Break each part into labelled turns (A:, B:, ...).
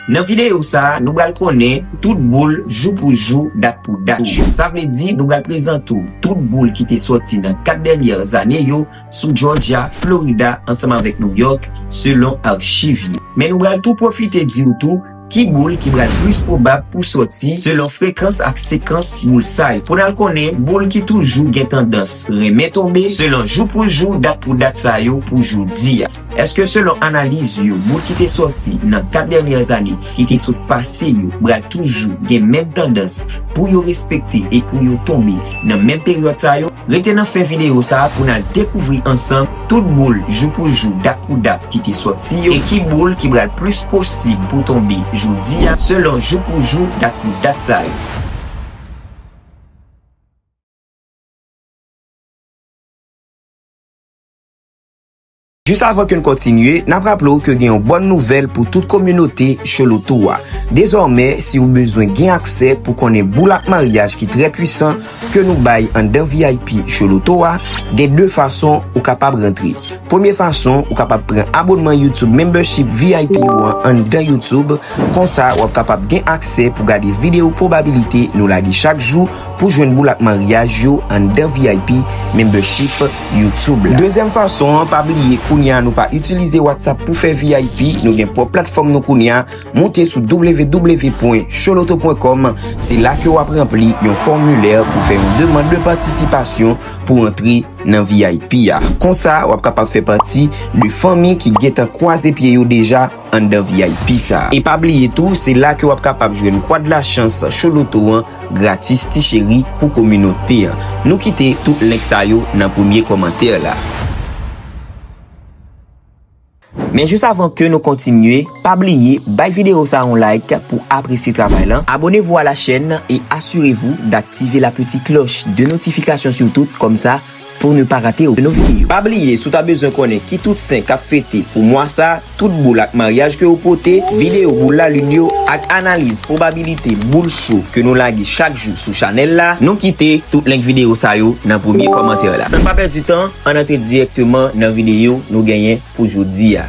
A: Nan videyo sa, nou bal konnen tout boul jou pou jou, dat pou dat yo. Sa vle di nou bal prezante w tout boul ki te soti nan 4 dènyè zane yo sou Jòjya, Florida ansanm avèk New York selon archiv yo. Men nou bal tou pwofite di w tou ki boul ki bal plis pwobab pou soti selon frekans ak sekans boul sa yo. Pou n al konnen boul ki toujou gen tandans renmen tonbe selon jou pou jou, dat pou dat sa yo pou jodi a. Eske selon analiz yo moun ki te sòti nan 4 dènyè ane ki te sot pase yo pral toujou gen menm tandans pou yo respekte e pou yo tonbe nan menm peryòd sa yo? Rete nan fen videyo sa pou n al dekouvri ansanm tout boul jou pou jou dat pou dat ki te sòti yo e ki boul ki pral plis posib pou tonbe jodi a selon jou pou jou dat pou dat sa yo. Jis avan ke n kontinye, n ap raple w ke gen yon bòn nouvèl pou tout kominote Cholotou a. Dezòmè, si ou bezwen gen aksè pou konnen boul ak maryaj ki trè pwisan ke nou bay anndan vip Cholotou a, gen 2 fason ou kapab rantre. Premye fason, ou kapab pran abonnman YouTube Membership vip ou an anndan YouTube, konsa w ap kapab gen aksè pou gade videyo pwobabilite nou lage chak jou pou jwenn boul ak maryaj yo anndan vip Membership. YouTube la. Dezyèm fason an, pa bliye kounye a nou pa itilize WhatsApp pou fè vip, nou gen pwòp platfòm nou kounye a, moute sou www.choloto.com, se la ke wap ranpli yon fòmilè pou fè yon demand de patisipasyon pou antre nan vip a. Konsa wap kapab fè pati de fanmi ki gentan kwaze pye yo deja anndan vip sa. E pa bliye tou, se la ke wap kapab jwenn Kwad Lachans Choloto an. Gratis ti cheri pou kominote an. Nou kite tout link sa yo nan premye kòmantè la. Men jis avan ke nou kontinye, pa bliye bay video sa yon like pou apresye travay lan, abonnez-vous à la chaîne et assurez-vous d'activer la petite cloche de notification surtout, kòmsa. Pou ne pa rate okenn video. Pa bliye si w ta bezwen konnen ki tout sen kap fete pou mwa sa, tout boul ak maryaj ke yo pote, video boul lalin yo ak analiz pwobabilite boul cho ke nou lage chak jou sou chanèl la, nou kite tout link video sa yo nan premye kòmantè la. San pa pèdi tan, ann antre dirèkteman nan video nou genyen pou jodi a.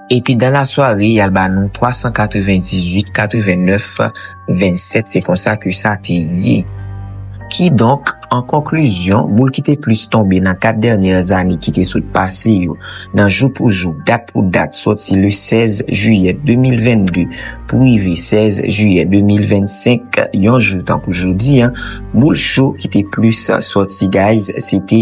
A: Epi dan la sware yal ba nou 398 89 27 se konsa ke sa te ye. Ki donk an konklizyon boul ki te plis tonbe nan 4 dènyè ane ki te sot pase yo nan jou pou jou dat pou dat sòti le 16 jiyè 2022 pou rive 16 jiyè 2025 yon jou tankou jodi an boul cho ki te plis sòti guys se te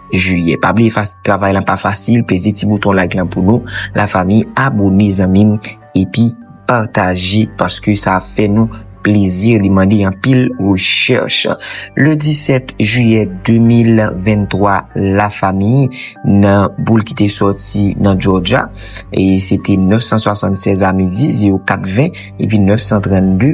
A: Juillet. Pa bliye fas travay lan pa fasil peze ti bouton like lan pou nou la fami abone zanmim epi pataje paske sa ap fè nou plezi li mande anpil recherche le 17 juillet 2023 la fami nan boule ki te soti nan Georgia e se te 976 a midi 04 20 epi 932.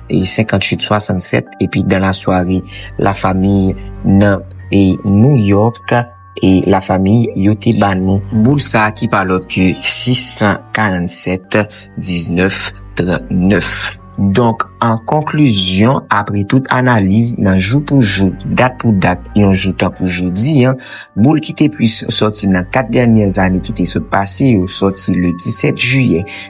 A: e 58 67 epi dan la sware la fami nan e New York e la fami yo te ba nou boul sa ki pa lòt ke 647 19 39. Donk an konklizyon apre tout analiz nan jou pou jou dat pou dat yon jou tankou jodi an boul ki te plis sòti nan 4 dènyè zane ki te sot pase yo sòti le 17 jiyè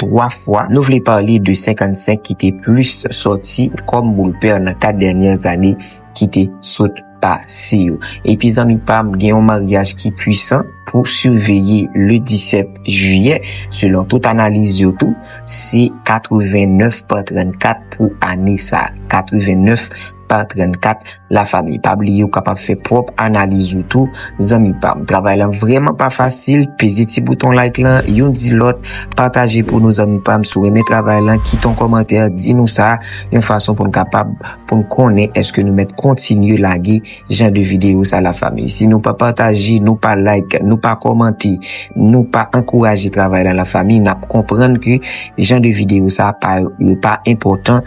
A: 3 fwa, nou vle pale de 55 ki te plis soti kòm boul pè nan 4 dènyè zane ki te sot pase yo. Epi zanmi pam gen yon maryaj ki pwisan pou siveye le 17 jiyè selon tout analiz yo tou se 89 pa 34 pou ane sa 89 pa. Part 34, La famille pa bliye ou kapab fè pwòp analiz ou tou zanmi pam. Travay lan vrèman pa fasil, peze ti bouton like lan, yon di lòt, pataje pou nou zanmi pam si w renmen travay lan, kite yon kòmantè di nou sa, yon fason pou n kapab pou n konnen èske nou mèt kontinye lage jan de videyo sa la famille. Si nou pa pataje, nou pa like, nou pa kòmante, nou pa ankouraje travay lan la famille, nap konprann ke jan de videyo sa pa yo pa enpòtan.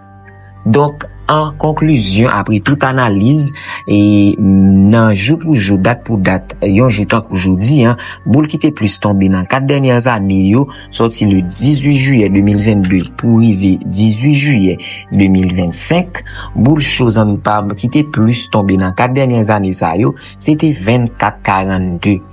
A: Donk, an konklizyon, apre tout analiz, e nan jou pou jou, dat pou dat, yon jou tankou jodi an, boul ki te plis tonbe nan 4 dènyè ane yo, sòti le 18 jiyè 2022 pou rive 18 jiyè 2025, boul cho zanmi pa m ki te plis tonbe nan 4 dènyè ane sa yo, se te 24 42.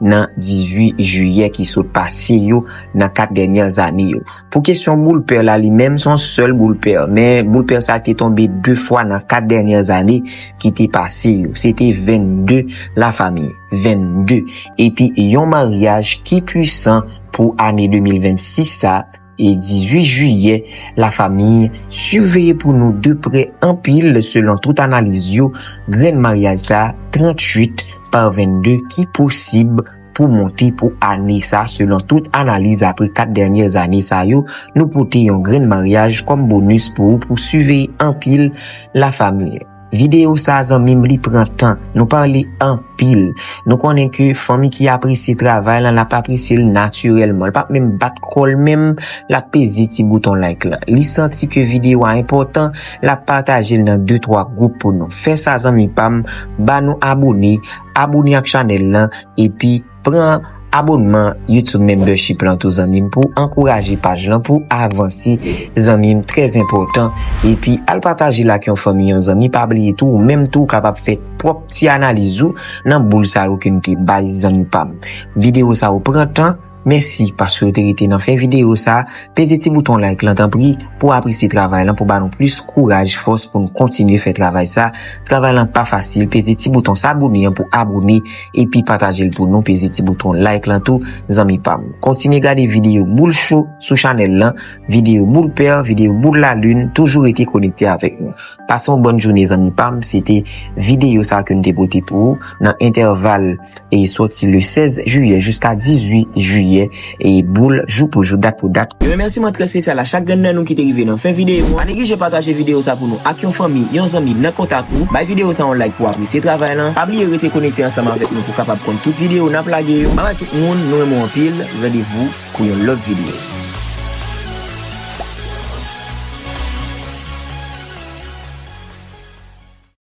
A: nan 18 jiyè ki sot pase yo nan 4 dènyè zane yo. Pou kesyon boule pè la li menm son sèl boule pè, men boule pè sa te tonbe 2 fwa nan 4 dènyè zane ki te pase yo. Se te 22 la fami, 22, epi yon maryaj ki pwisan pou ane 2026 sa. e 18 jiyè la famiy siveye pou nou de prè anpil selon tout analiz yo grenn maryaj sa 38 par 22 ki posib pou monte pou ane sa selon tout analiz apre 4 dènyè zane sa yo nou pote yon grenn maryaj kòm bonus pou ou pou siveye anpil la famiy. Video sa zanmim li pran tan, nou parle anpil, nou konnen ke fanmi ki apresye travay lan lap apresyel naturelman, li pap menm bat kòl menm lap peze ti bouton like lan, li santi ke video a enpòtan lap patajel nan de twa group pou nou, fè sa zanmi pam, ba nou abone, abone ak chanèl lan, epi. Pran abonman YouTube membership lan tou zanmim pou ankouraje paj lan pou avanse zanmim trè enpòtan epi al patajel ak yon fanmi yon zanmi pa bliye tou ou menm tou kapab fè pwòp ti analiz ou nan boul sa yo kem te bay zanmi pam video sa yo pran tan mèsi paske ou te rete nan fen video sa peze ti bouton like lan tanpri pou apresye travay lan pou ba nou plis kouraj fòs poun kontinye fè travay sa travay lan pa fasil peze ti bouton sabone an pou abone. epi patajel pou nou peze ti bouton like lan tou zanmi pam kontinye gade video boul cho sou chanel lan video boul per video boul la lune toujou rete konekte avek nou pase yon bonne joune zanmi pam se te video sa ke nou te pote pou ou nan enteval e soti le 16 juye jiska 18 juye. e boul jou pou jou dat pou dat. Yon remèsiman trè spesyal a chak grenn nan nou ki te rive nan fen videyo an. Pa neglije pataje videyo sa pou nou ak yon fanmi, yon zanmi nan kontak ou. Bay videyo sa yon like pou w apresye travay lan. Pa bliye rete konekte ansanm avèk nou pou w kapab konn tout videyo n ap lage yo. Bye bye tout moun, nou renmen w anpil, randevou pou yon lòt videyo.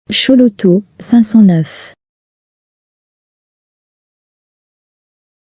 B: Chouloutou 509.